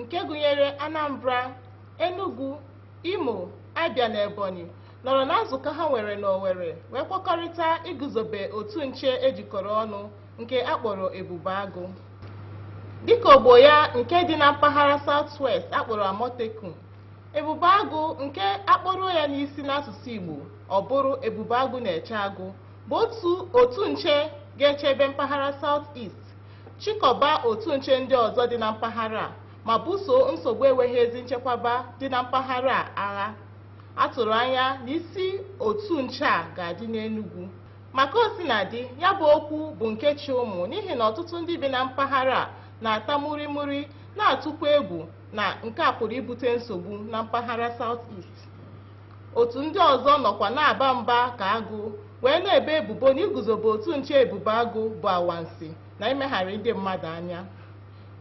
nke gụnyere Anambra, Enugu, Imo, Abia na Ebonyi nọrọ na nzukọ ha nwere n'Owerri wee kwekọrịta iguzobe otu nche ejikọrọ ọnụ nke a kpọrọ Ebube Agụ. Dịka ogbo ya nke dị na mpaghara South West a kpọrọ Amotekun, Ebube Agụ nke a kpọruo ya n'isi n'asụsụ Igbo ọ bụrụ Ebube Agụ na-eche agụ bụ otu otu nche ga-echebe mpaghara South East chịkọba otu nche ndị ọzọ dị na mpaghara a ma buso nsogbu enweghị ezi nchekwaba dị na mpaghara a agha a tụrụ anya na isi otu nche a ga-adị n'Enugu ma ka o sina dị ya bụ okwu bụ nke chị ụmụ n'ihi na ọtụtụ ndị bi na mpaghara a na-ata murimuri na-atụkwa egwu na nke a pụrụ ibute nsogbu na mpaghara South East otu ndị ọzọ nọkwa na-aba mba ka agụ wee na-ebo ebubo na iguzobe otu nche ebube agụ bụ anwansi na imegharị ndị mmadụ anya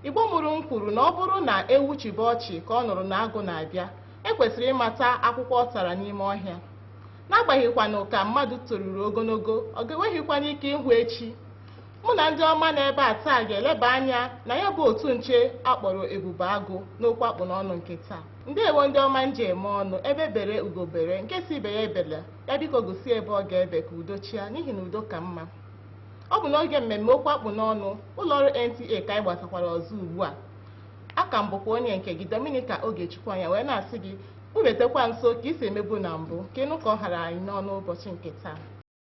igbo mụrụ m kwuru na ọ bụrụ na ewu chịbe ọchị ka ọ nụrụ na agụ na-abịa ekwesịrị ịmata akwụkwọ ọ tara n'ime ọhịa n'agbaghịkwanụ ka mmadụ toruru ogologo ọ ga-enweghịkwanụ ike ịhụ echi mụ na ndị ọma nọ ebe a taa ga-eleba anya na ya bụ otu nche akpọrọ ebube agụ n'okwu akpụ n'ọnụ nke taa ndewo ndị ọma m ji eme ọnụ egbe bere ugo bere nke sị ibe ya ebela ya biko gosi ebe ọ ga-ebe ka udo chịa n'ihi na udo ka mma ọ bụ n'oge mmemme okwu akpụ n'ọnụ ụlọ ọrụ NTA ka anyị gbatakwara ọzọ ugbu a a ka m bụkwa onye nke gị Dominica Ogechukwu anya wee na-asị gị kpụbetekwa nso ka i si emebu na mbụ ka ị nụ ka ọ hara anyị n'ọnụ ụbọchị nke taa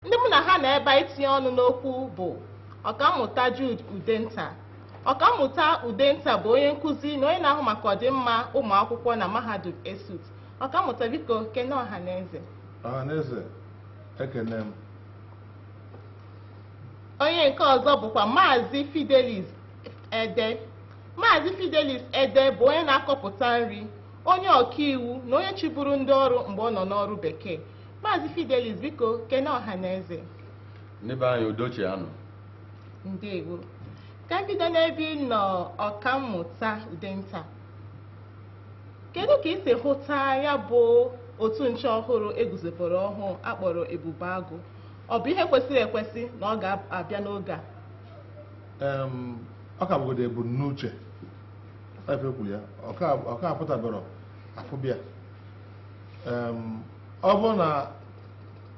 Ndị mụ na ha nọ ebe a itinye ọnụ n'okwu bụ Ọkammụta Jude Udenta. Ọkammụta Udenta bụ onye nkụzi na onye na-ahụ maka ọdịmma ụmụ akwụkwọ na mahadum ESUT. Ọkammụta biko kene ọha na eze. Ọhaneze, ekene m. Onye nke ọzọ bụkwa Maazị Fidelis Ede. Maazị Fidelis Ede bụ onye na-akọpụta nri, onye ọkaiwu na onye chịburu ndị ọrụ mgbe ọ nọ n'ọrụ bekee. Maazị Fidelis biko kene ọha na eze. Ndị be anyị udo chịanụ. Ndewo. Ka m bido n'ebe ị nọ ọkammụta Udenta. Kedu ka ị si hụta ya bụ otu nche ọhụrụ eguzobere ọhụụ akpọrọ Ebube Agụ? Ọ bụ ihe kwesịrị ekwesị na ọ ga-abịa n'oge a? Ọ ka bụgodu ebumnuche. Ife e kwuru ya, ọ ka apụtabarọ afụbe ya. ọ bụrụ na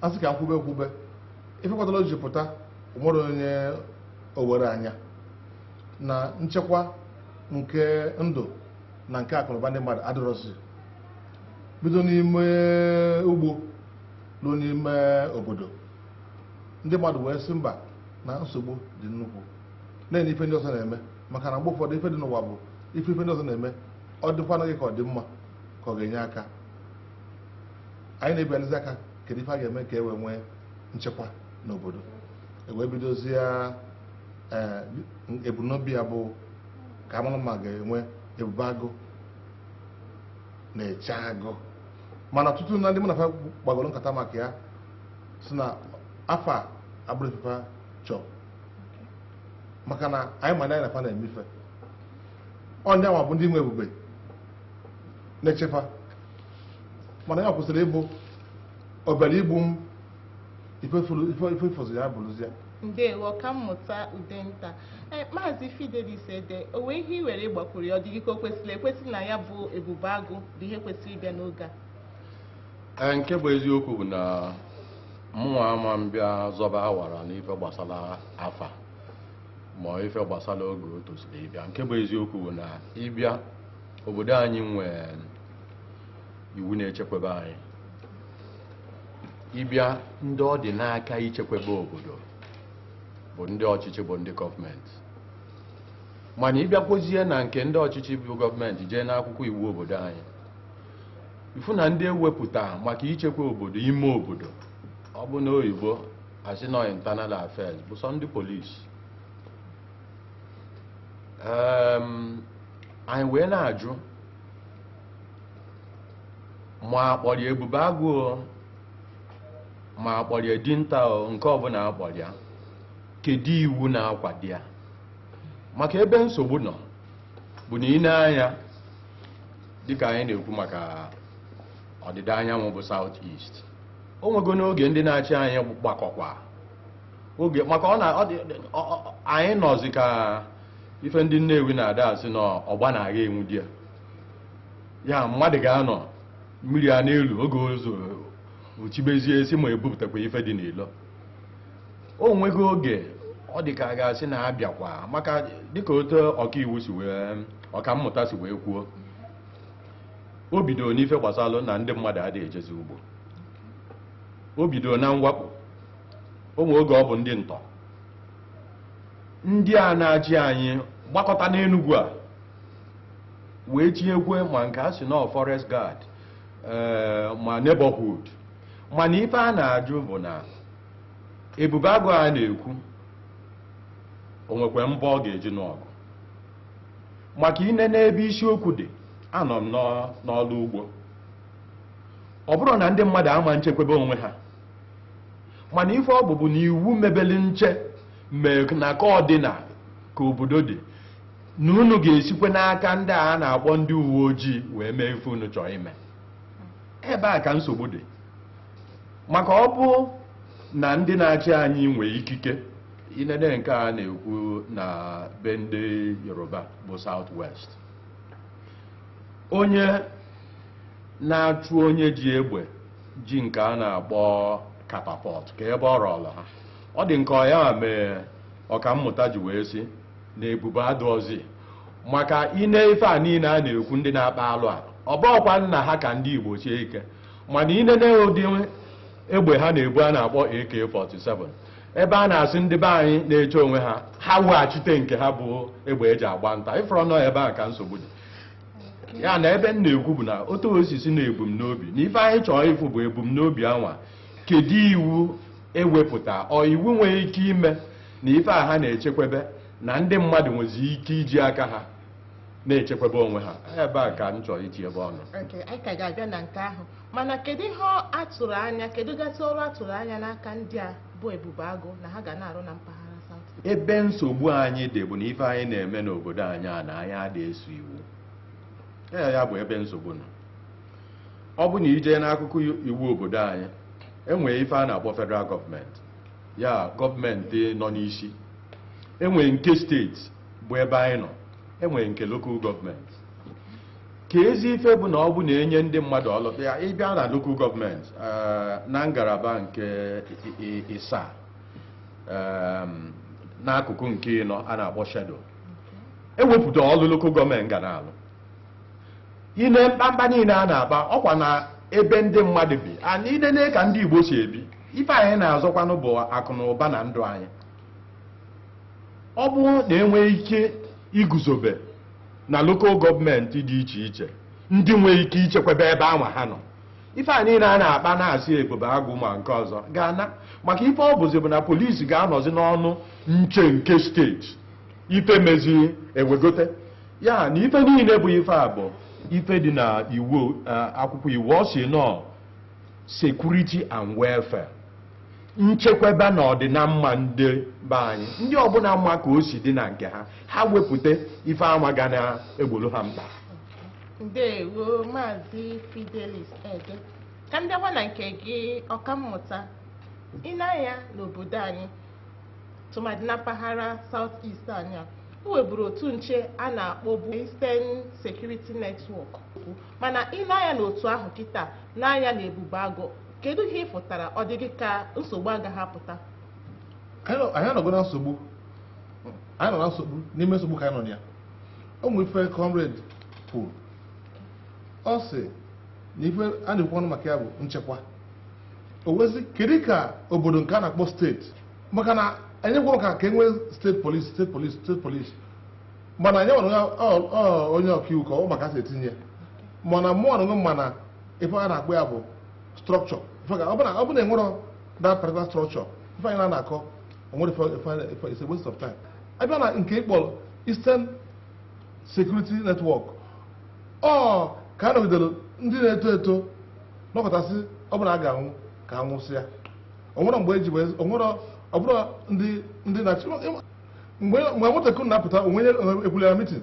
a sị ka e kwube kwube ife kpatara o ji pụta nwerọ onye o werọ anya na nchekwa nke ndụ na nke akụnụba ndị mmadụ adịrọzi bido n'ime ugbo ruo n'ime obodo ndị mmadụ wee sị mba na nsogbu dị nnukwu na-ene ife ndị ọzọ na-eme maka na mgbe ụfọdụ ife dị n'ụwa bụ ị fụ ife ndị ọzọ na-eme ọ dịkwanụ gị ka ọ dị mma ka ọ ga-enye aka anyị na-agbalịzi ka kedu ife a ga-eme ka e wee nwee nchekwa n'obodo e wee bidozie ya, ebumnobi ya bụ ka a malụ ma a ga-enwe ebube agụ na-eche agụ mana ọtụtụ na ndị mụ na fa kpagoro nkata maka ya sị na afa a abụrọ ife fa chọọ maka na anyị ma ndị anyị na fa na-eme ife ọ ndị anwa bụ ndị nwe ebube na-eche fa mana ya kwesịrị ịbụ ọbịara igbu m ife fọzi ya bụrụzie ndewo ọkammụta udenta e, maazị fidelis ede o nwee ihe i nwere ịgbakwuru ya ọ dị gị ka o kwesịrị ekwesị na ya bụ ebube agụ bụ ihe kwesịrị ịbịa n'oge a e, nke bụ eziokwu bụ na mụnwa ama m bịa zọba awara n'ife gbasara afa ma ife gbasara oge o tosiri ịbịa nke bụ eziokwu bụ na ị bịa obodo anyị nwee iwu na-echekwebe anyị ị bịa ndị ọ dị n'aka ichekwebe obodo bụ ndị ọchịchị bụ ndị gọọmenti mana ị bịakwozie na nke ndị ọchịchị bụ gọọmenti jee n'akwụkwọ iwu obodo anyị ị fụ na ndị e wepụta maka ichekwa obodo ime obodo ọ bụrụ n'oyibo a sị na ọ internal affairs bụ sọ ndị polisi anyị wee na-ajụ ma a kpọrọ ya ebube agụ ma a kpọrọ ya dinta nke ọbụla a kpọrọ ya kedu iwu na-akwado ya maka ebe nsogbu nọ bụ na ị nee anya dịka anyị na-ekwu maka ọdịda anyanwụ bụ South East o nwegonụ oge ndị na-achị anyị gbakọkwa oge maka ọ na ọ dị ọ- ọ- anyị nọzi ka ife ndị nnewi na-ada asị na ọ gba na-aga e nwude ya ya mmadụ ga-anọ mmiri ana-elu oge o zochibezie a sị ma e bupụtakwa ife dị n'ilo o nwego oge ọ dị ka a ga-asị na a bịakwa maka dịka otu ọkaiwu si wee ọkammụta si wee kwuo o bidoro n'ife gbasalụ na ndị mmadụ adị ejezi ugbo o bidoro na mwakpo o nwee oge ọ bụ ndị ntọ ndị a na-achị anyị gbakọta n'Enugu a wee tinyekwe ma nke a sị na forest guard ee ma neighborhood mana ife a na-ajụ bụ na ebube agụ a na-ekwu o nwekwa mgbọ ọ ga-eji nụọ ọgụ maka i nee n'ebe isiokwu dị anọ m n'ọ- n'ọlụ ugbo ọ bụrọ na ndị mmadụ ama nchekwebe onwe ha mana ife ọ bụ bụ na iwu mebeli nche mee na ka ọ dị na ka obodo dị na unu ga-esikwe n'aka ndị a na-akpọ ndị uwe ojii wee mee ife unu chọọ ime ebe a ka nsogbu dị maka ọ bụ na ndị na-achị anyị nwee ikike i nene nke a na-ekwu na be ndị yoruba bụ south west onye na-achụ onye ji egbe ji nke a na-akpọ catapult ka ebe ọ rọla ha ọ dị nke ọ ya mee ọkammụta ji wee sị na ebube adịrọzi maka i nee ife a niile a na-ekwu ndị na-akpa alụ a ọ bụọkwa na ha ka ndị igbo sie ike mana i nene ụdị egbe ha na-ebu a na-akpọ AK-47 ebe a na-asị ndị be anyị na-eche onwe ha ha weghachite nke ha bụ egbe e ji agba nta ị fụrọ na ọ ebe a ka nsogbu dị ya na ebe m na-ekwu bụ na otu osisi na ebumnobi na ife anyị chọrọ ịfụ bụ ebumnobi anwa kedu iwu e wepụta or iwu nwere ike ime na ife a ha na-echekwebe na ndị mmadụ nwezi ike iji aka ha na-echekwebe onwe ha ebe a ka m chọrọ itinyebe ọnụ Okay, anyị ka ga-abịa na nke ahụ mana kedu ihe a tụrụ anya kedu gasị ọrụ a tụrụ anya n'aka ndị a bụ ebube agụ na ha ga na-arụ na mpaghara South ebe nsogbu anyị dị bụ na ife anyị na-eme n'obodo anyị a na anyị adị eso iwu ee ya bụ ebe nsogbu nọ ọ bụ na i jee n'akwụkwọ iwu obodo anyị e nwee ife a na-akpọ federal gọọmenti ya gọọmenti nọ n'isi e nwee nke steeti bụ ebe anyị nọ e nwee nke lokal gọọmenti ka ezi ife bụ na ọ bụ na-enye ndị mmadụ ọlụ ya ị bịa na lokal gọọmenti eh, na ngalaba nke ịsaa ehm, n'akụkụ nke ịnọ a na-akpọ schedule e wepụta ọlụ lokal gọọmenti ga na-alụ i nee mkpamkpa niile a na-akpa ọ kwa na ebe ndị mmadụ bi and i nene ka ndị Igbo si ebi ife anyị na-azọkwanụ bụ akụ na ụba na ndụ anyị ọ bụrụ na e nwee ike iguzobe na lokal gọọmenti dị iche iche ndị nwere ike ichekwabe ebe anwa ha nọ ife a niile a na-akpa na-asị ebube agụ ma nke ọzọ ga-ana maka ife ọ bụzi bụ na polisi ga-anọzi n'ọnụ nche nke steeti ife mezi ewegote ya na ife niile bụ ife a bụ ife dị na iwu akwụkwọ iwu ọ sị na security and welfare nchekwaba na ọdịnamma ndị be anyị ndị ọbụla ma ka o si dị na nke ha ha wepụta ife anwa ga na-egboro ha mkpa ndewo maazị fidelis ede ka m bịakwa na nke gị ọkammụta i nee anya n'obodo anyị tụmadị na mpaghara south east anyị a e nweburu otu nche a na-akpọbu eastern security network mana i nee anya n'otu ahụ kịta nee anya na ebube agụ kedu ihe ị fụtara ọ dị gị ka nsogbu agaghị apụta anyị nọ- anyị anọgo na nsogbu anyị nọ na nsogbu n'ime nsogbu ka anyị nọ na ya o nwere ife comrade kwuru ọ sị na ife a na-ekwu ọnụ maka ya bụ nchekwa o wezi kedu ka obodo nke a na-akpọ steeti maka na anyị kwuru ka ka e nwee steeti polisi steeti polisi steeti polisi mana anyị nwere onye- ọ- ọ- onye ọkaiwu ka ọ ma ka e si etinye mana mụ ọnụnụ mana ife a na-akpọ ya bụ structure ọ bụ na e nwerọ that particular structure ife anyị na-akọ o nwerọ it's a waste of time a bịa na nke ị kpọrọ Eastern Security Network ọ ka a nọgidere ndị na-eto eto nọkọtasị ọ bụ na a ga-anwụ ka a nwụsịa o nwerọ mgbe eji onwere ọbụrụ ndị ndị na-achị mgbe nwatakịrị na-apụta onwe ekwulela mitin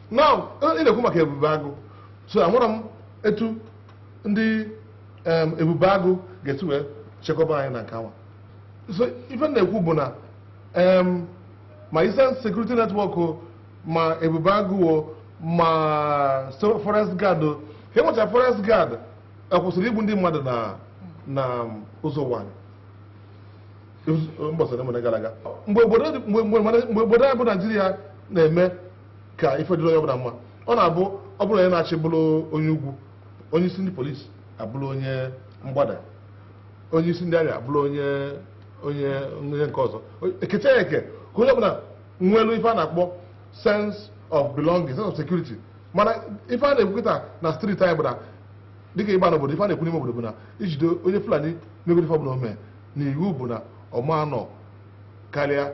na ị na-ekwu maka ebube agụ so amarọ m etu ndị ebube agụ ga-esi wee chekwaba anyị na nke awa so ife na-ekwu bụ na ma Eastern Security Network ma ebube agụ ma forest guard ka e nwecha forest guard a kwụsịrị igbu ndị mmadụ na na ụzọ ụwanị mgbe gara aga mgbe obodo anyị bụ naijiria na-eme ka ife dịrị onye ọbụla mma ọ na-abụ ọ bụrụ onye na-achị bụrụ onye ugwu onye isi ndị polisi abụrụ onye mgbada onye isi ndị amị abụrụ onye onye onye nke ọzọ e kechaa ya eke ka onye ọbụla nwelu ife a na-akpọ sense of belonging sense of security mana ife a na-ekwu kịta na street anyị bụ na dịka ị baa n'obodo ife a na-ekwu n'ime obodo bụ na e jide onye fulani megoro ife ọbụla o mee na iwu bụ na ọ ma anọ karịa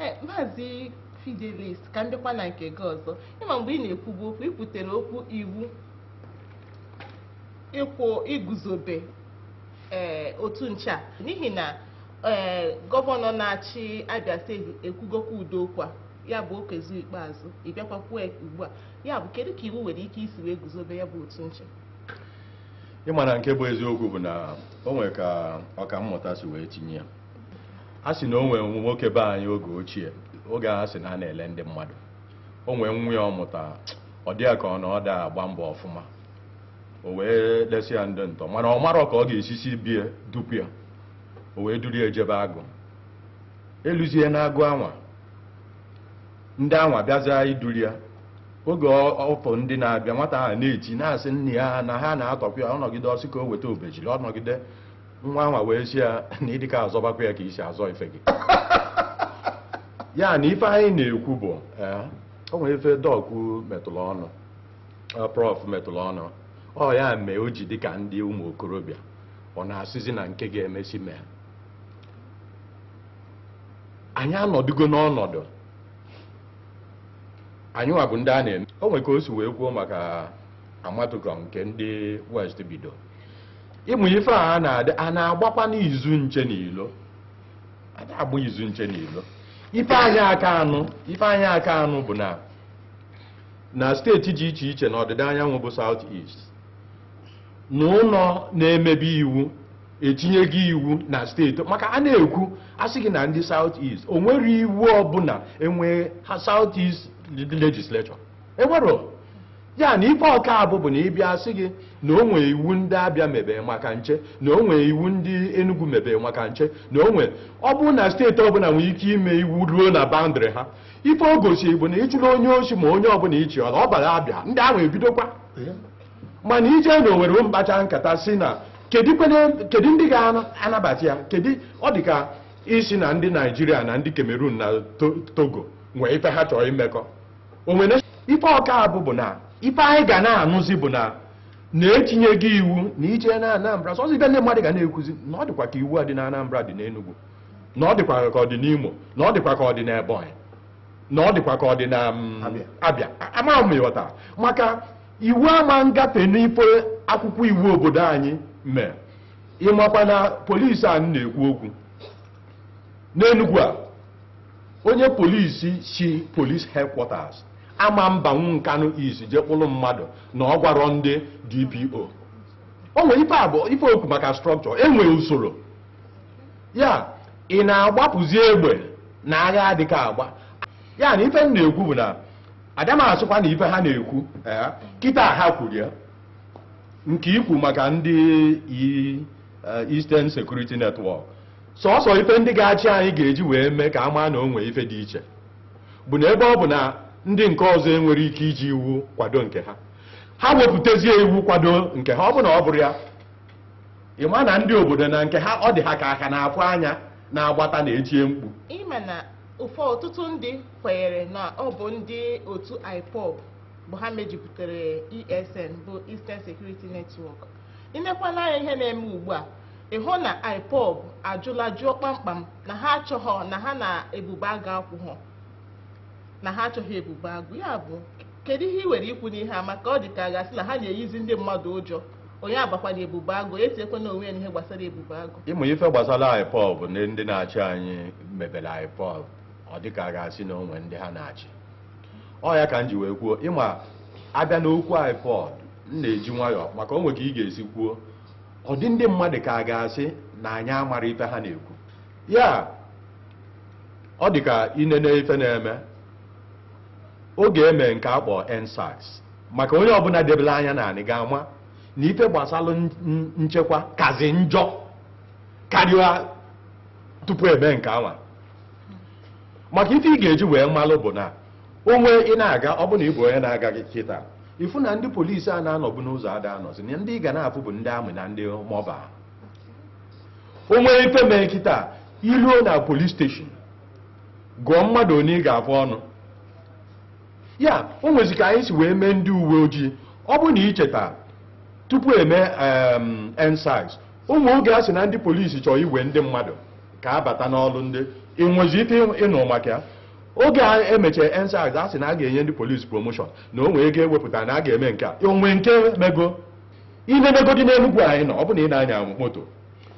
Eh, maazị fidelis ka m dịkwa na nke gị ọzọ ị ma mgbe ị na-ekwubu okwu ị kwutere okwu iwu ịkwụ iguzobe eh, otu nche a n'ihi na eh, gọvanọ na-achị abịa steeti ekwugokwa ụdị okwu a ya bụ okezie ikpeazụ ị bịakwa kwuo ya ugbu a ya bụ kedu ka iwu nwere ike isi wee guzobe ya bụ otu nche ị ma na nke bụ eziokwu bụ na o nwere ka ọka mmụta si wee tinye ya a sị na o nwere nwoke be anyị oge ochie oge a sị na a na-ele ndị mmadụ o nwee nwa ya ọ mụta ọ dị ya ka ọ na ọ da agba mbọ ọfụma o wee lesi ya ndị ntọ mana ọ marọ ka ọ ga-esi si be ya dupu ya o wee duru ya jebe agụ e luzie n'agụ anwa ndị anwa bịazịa iduli ya oge ọ fụ ndị na-abịa nwata ahụ na-eti na-asị nna ya na ha na-atọpụ ya ọ nọgide ọ sị ka o weta obejiri ọ nọgide nwa anwa wee sị ya na ịdịka azọbakwa ya ka i si azọ ife gị ya na ife anyị na-ekwu bụ eh, o nwere ife dọk metụrụ ọnụ eh, prọf metụrụ ọnụ ọ ya mee o ji dịka ndị ụmụ okorobịa ọ na-asịzi na nke ga-emesi mee anyị anọdụgo n'ọnọdụ anyị nwa bụ ndị a na-eme o nwere ka o si wee kwuo maka amotekun nke ndị west bido ịmụ ife a a na-adị a na-agbakwanụ izu nche n'ilo a da agba izu nche n'ilo ife anyị aka anụ ife anyị aka anụ bụ na na steeti dị iche iche na ọdịda anyanwụ bụ south east na ụlọ na-emebe iwu etinyego iwu na steeti maka a na-ekwu a sị gị na ndị South East o nwere iwu ọbụla e nwee ha South East legislature e nwerọ ya na ife ọ ka-abụ bụ na ị bịa a sị gị na o nwee iwu ndị abịa mebe maka nche na o nwee iwu ndị Enugu mebe maka nche na o nwee ọ bụrụ na steeti ọbụla nwere ike ime iwu ruo na boundary ha ife o gosiri bụ na ị chụrụ onye osi ma onye ọbụla ị chụọla ọ bara abịa ndị ahụ ebidokwa mana ije na owere kpachaa nkata sị na kedu ndị ga-anabata ya kedu ọ dị ka ị sị na ndị naijiria na ndị kamerun na togo nwee ife ha chọrọ imekọ o nwere ife ọ ka-abụ bụ na ife anyị ga na-anụzi bụ na na etinyego iwu na ị je na anambra sọsọ ife ndị mmadụ ga na-ekwuzi na ọ dịkwa ka iwu a dị na anambra dị n'enugwu na ọ dịkwa ka ọ dị n'imo na ọ dịkwa ka ọ dị n'ebonyi na ọ dịkwa ka ọ dị na mm, abịa amaghị m ị ghọta maka Iwu ama ngafe n'ife akwụkwọ iwu obodo anyị mee. Ị makwa na polisi a m na-ekwu okwu n'Enugwu a, onye polisi si police headquarters ama mbanwu Nkanụ East je kpụrụ mmadụ na ọ gwarọ ndị DPO. O nwere ife abụọ ife okwu maka structure, e nwere usoro. Ya ị na-agbapụzi egbe na agha adịka agba. Ya na ife m na-ekwu bụ na ada m asụkwa na ife ha na-ekwu ee, kịta ha kwuru ya nke ikwu maka ndị i- eh, Eastern Security Network sọsọ ife ndị ga-achị anyị ga-eji wee mee ka a maa na o nwee ife dị iche bụ na ebe ọ bụ na ndị nke ọzọ enwere ike iji iwu kwado nke ha ha wepụtazie iwu kwado nke ha ọ bụ na ọ bụrọ ya ị ma na ndị obodo na nke ha ọ dị ha ka aka na-afụ anya na-agbata na-etie mkpu ịma na ụfọ ọtụtụ ndị kwenyere na ọ bụ ndị otu IPOB bụ ha mejupụtara ESN bụ Eastern Security Network inekwana anya ihe na-eme ugbu a ịhụ na IPOB ajụla jụọ kpamkpam na ha achọghọ na ha na ebube agụ akwụghọ na ha achọghị ebube agụ ya bụ kedu ihe ị nwere ikwu n'ihe a maka ọ dị ka a ga-asị na ha na-eyizi ndị mmadụ ụjọ onye abakwana ebube agụ etiekwana onwe ya n'ihe gbasara ebube agụ ị ma ife gbasara IPOB na ndị na-achị anyị mebere IPOB ọ dị ka a ga-asị na o nwe ndị ha na-achị ọ ya ka m ji wee kwuo ịma a bịa n'okwu IPOB m na-eji nwayọọ maka o nwe ka ị ga-esi kwuo ọ dị ndị mmadụ ka a ga-asị na anyị amara ife ha na-ekwu ya ọ dị ka inene ife na-eme oge eme nke a kpọ EndSARS maka onye ọbụla debere anya n'anị ga-ama na ife gbasara nchekwa kazi njọ karịa tupu eme nke anwa maka ife ị ga-eji wee malụ bụ na o nwe ị na-aga ọ bụ na ị bụ onye na-aga gị kịta ịfụ na ndị polisi a na-anọbu n'ụzọ ada anọzi na ndị ị ga na-afụ bụ ndị army na ndị mobile o nwe ife mee kịta iruo na police station gụọ mmadụ one ị ga-afụ ọnụ ya o nwezi ka anyị si wee mee ndị uwe ojii ọ bụ na icheta tupu eme EndSARS o nwe oge a sị na ndị polisi chọrọ iwe ndị mmadụ ka a bata n'ọrụ ndị ị nwezi ike ịnụ maka ya oge a emechara EndSARS a sị na a ga-enye ndị polisi promotion na o nwee ego ewepụta na a ga-eme nke a o nwe nke mego inemegodi n'enugwu anyị nọ ọ bụ na ị na-anya moto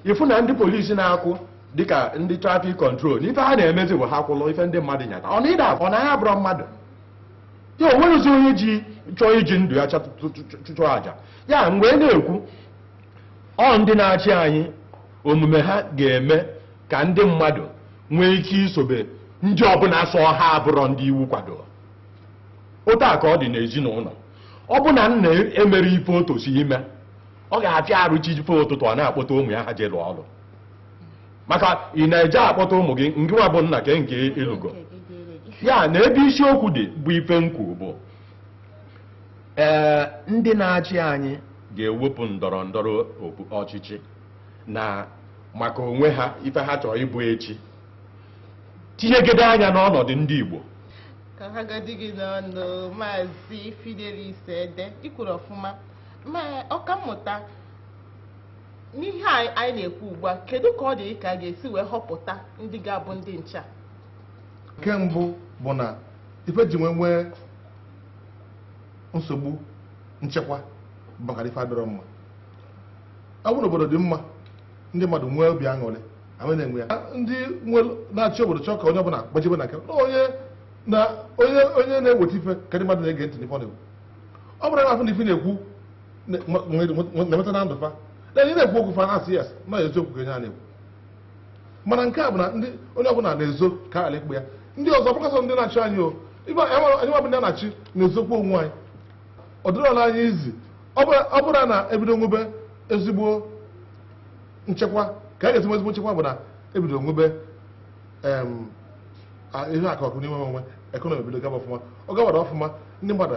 ịfụ na ndị polisi na-akwụ dịka ndị traffic control na ife ha na-emezi bụ ha kwụlụ ife ndị mmadụ nyata ọ na ịda ọ na ya bụrụ mmadụ ya o nweghịzi onye ji chọọ iji ndụ ya chụọ aja ya mgbe na-ekwu ọ ndị na-achị anyị omume ha ga-eme ka ndị mmadụ nwee ike isobe ndị ọbụla sọ ha abụrọ ndị iwu kwadoro otu a ka ọ dị n'ezinụnọ ọ bụ na nna emerọ ife o tosi ime ọ ga-afịa arụ chi ife ụtụtụ ọ na-akpọta ụmụ ya ha je lụọ ọlụ maka ị na-eje akpọta ụmụ gị ngị nwa bụ nna ke nke ị lụgo ya na ebe isiokwu dị bụ ife m kwu bụ ee ndị na-achị anyị ga-ewepụ ndọrọ ndọrọ ọchịchị na maka onwe ha ife ha chọrọ ịbụ echi tinyegide anya n'ọnọdụ ndị Igbo ka a hagodi gị n'ọnụ maazị Fidelis Ede i kwuru ọfụma ma ọkammụta n'ihe anyị na-ekwu ugbu a kedu ka ọ dị gị ka a ga-esi wee họpụta ndị ga-abụ ndị nche nke mbụ bụ na ife e ji wee nwee nsogbu nchekwa bụkwa na ife adịrọ mma ọ bụ na obodo dị mma ndị mmadụ nwee obi aṅụrị ahụ na-enwe ya ndị na-achị obodo chọọ ka onye ọbụla gbajebe na nke onye na onye onye na-eweta ife ka ndị mmadụ na-ege ntị n'ife ọ na-ekwu ọ bụrụ na a fụ na ife na-ekwu na-emeta na ndụ fa na onye na-ekwu okwu fa na-asị yes na eziokwu ka onye a na-ekwu mana nke a bụ na ndị onye ọbụla na-ezo ka ala ikpe ya ndị ọzọ bụkasị ndị na-achị anyị o ibe anyị nwere- anyị nwabụ ndị a na-achị na-ezokwa onwe anyị ọ dịrọla anyị easy ọ bụrụ- ọ bụrụ na ebido nwebe ezigbo nchekwa ka a ga-esi nwe ezigbo nchekwa bụ na ebido nwebe em, a- ihe akụ akụ na enwe enwe economy ebido gaba ọfụma ọ gabalụ ọfụma ndị mmadụ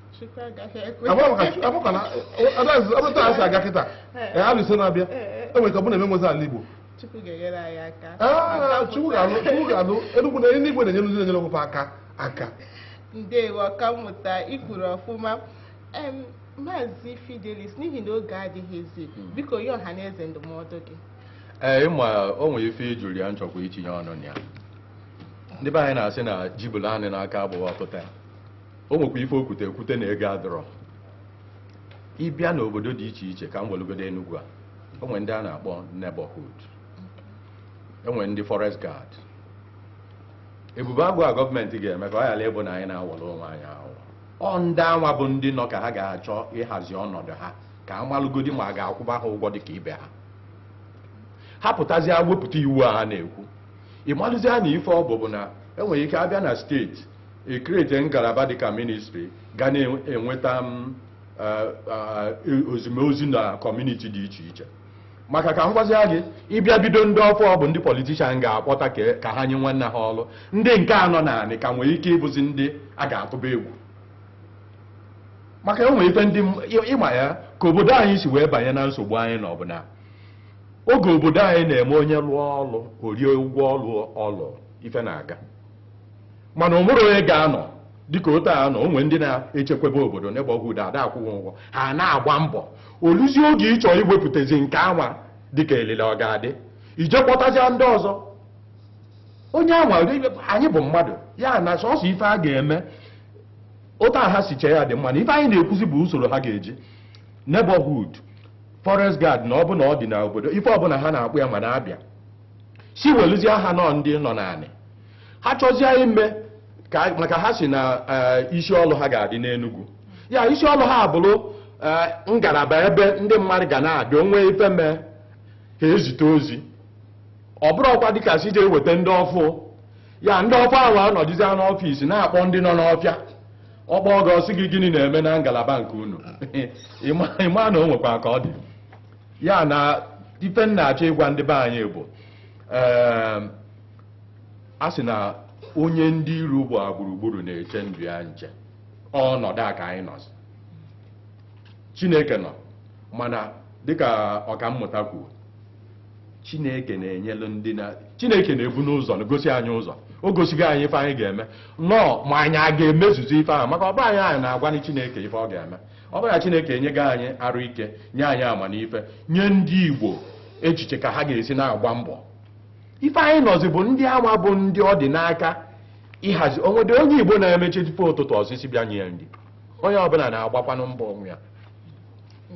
abụta asị aga kịta alụso na-abịa enwere ike ọ bụrụ na eme nwezi ala Igbo Chukwu ga-alụ enugwu na eluigwe na-enyere ndị na-enyere onwe aka aka ndewo ọkammụta i kwuru ọfụma maazị Fidelis n'ihi na oge adịghịzi hmm. biko nye ọha na eze ndụmọdụ gị ee ịma o nwere ife ijuru ya chọkwa itinye ọnụ na ya ndị be anyị na-asị na jibụla anị n'aka abụọ pụta o nwekwa ife o kwute ekwute na ego adọrọ ịbịa n'obodo dị iche iche ka m welugodi Enugu a o nwere ndị a na-akpọ neighborhood enwere ndị forest guard ebube agụ a gọọmenti ga-eme ka ọ ghala ịbụ na anyị na-awọrọ onwe anyị ahụ ọ ndị anwa bụ ndị nọ ka ha ga-achọ ịhazi ọnọdụ ha ka a malụgodi ma a ga-akwụba ha ụgwọ dị ka ibe ha ha pụtazịa wepụta iwu a ha na-ekwu ị malụzie na ife ọ bụ bụ na enwere ike abịa na steeti e create ngalaba dịka ministry ga na-enweta m ozimozi na kọmuniti dị iche iche maka ka m gwazia gị ị bịa bido ndị ọfụ bụ ndị politishan ga-akpọta ka ha nye nwanne ha ọrụ ndị nke a nọ n'anị ka nwere ike ịbụzi ndị a ga-atụba egwu maka e nwere ife ndị ị ma ya ka obodo anyị si wee banye na nsogbu anyị nọ bụ na oge obodo anyị na-eme onye lụọ ọlụ o rie ụgwọ ọlụ ife na-aga mana o nwere onye ga-anọ dịka otu a nọ o nwee ndị na-echekwebe obodo neighborhood a da-akwụ ụgwọ ha na-agba mbọ o luzie oge ị chọọ iwepụtazi nke anwa dịka elele ọ ga-adị i je kpọtazia ndị ọzọ onye anwa anyị bụ mmadụ ya na sọsọ ife a ga-eme otu a ha si chee ya dị mma mana ife anyị na-ekwuzi bụ usoro ha ga-eji neighborhood forest guard na ọ bụ na ọ dị n'obodo ife ọbụla ha na-akpọ ya mana a bịa sị welụzie ha nọ ndị nọ n'anị ha chọzie ime ka maka ha sị na eh, isi ọlụ ha ga-adị n'Enugu ya isi ọlụ ha abụrụ eh, ngalaba ebe ndị mmadụ ga na-adị o nwee ife mee ha ezite ozi ọ bụrọkwa dịka sị je weta ndị ọfụ ya ndị ọfụ ahụ anọdụzie n'ọfịs na-akpọ ndị nọ n'ọfịa ọ kpọọ gị sị gị gịnị na-eme na ngalaba nke unu ị ma na o nwekwa ka ọ dị ya na ife m na-achọ ịgwa ndị be anyị bụ ee a sị na onye ndị iro gba gburugburu na-eche ndụ ya nche ọnọdụ a ka anyị nọzi chineke nọ mana dịka ọkammụta kwu chineke na-enyelu ndị na chineke na-ebu n'ụzọ na-egosi anyị ụzọ o gosigo anyị ife anyị ga-eme nọọ ma anyị ga-emezuzi ife ahụ maka ọ bụrọ anyị anyị na-agwanụ chineke ife ọ ga-eme ọ bụrụ na Chineke enyego anyị arụ ike nye anyị amamife nye ndị Igbo echiche ka ha ga-esi na-agba mbọ ife anyị nọzi bụ ndị anwa bụ ndị ọ dị n'aka ịhazi o nwerọ onye Igbo na-eme chi fo ụtụtụ ọ sị sị bịa nye ya nri onye ọbụla na-agbakwanụ mbọ onwe ya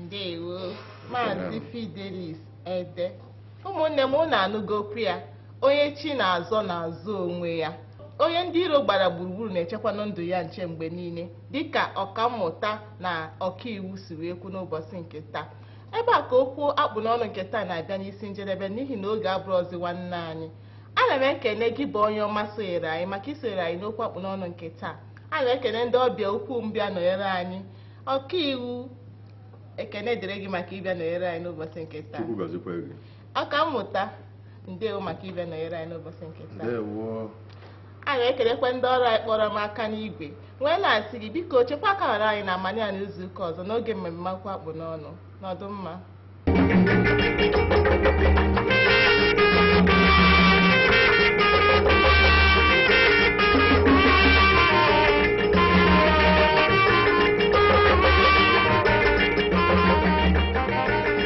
ndewo maazị fidelis ede ụmụnne m unu anụgo okwu ya onye chi na-azọ na-azọ onwe ya onye ndị iro gbara gburugburu na-echekwanụ ndụ ya nche mgbe niile dịka ọkammụta na ọkaiwu si wee kwu n'ụbọchị nke taa ebe a ka okwu akpụ n'ọnụ nke taa na-abịa n'isi njedebe n'ihi na oge abụrọzi nwanne anyị ana m ekene gị bụ onye ọma sonyere anyị maka isonyere anyị n'okwu akpụ n'ọnụ nke taa ana m ekene ndị ọbịa ukwu m bịa nọnyere anyị ọkaiwu ekene dịrị gị maka ịbịa nọnyere anyị n'ụbọchị nke taa Chukwu gọzikwa gị ọkammụta ndewo maka ịbịa nọnyere anyị n'ụbọchị nke taa ndewo a na-ekelekwa ndị ọrụ anyị kpọrọ m aka n'igwe wee na-asị gị biko chekwa akara anyị n'amanị a n'izu ụka ọzọ n'oge mmemme okwu a kpụ n'ọnụ nọdụ mma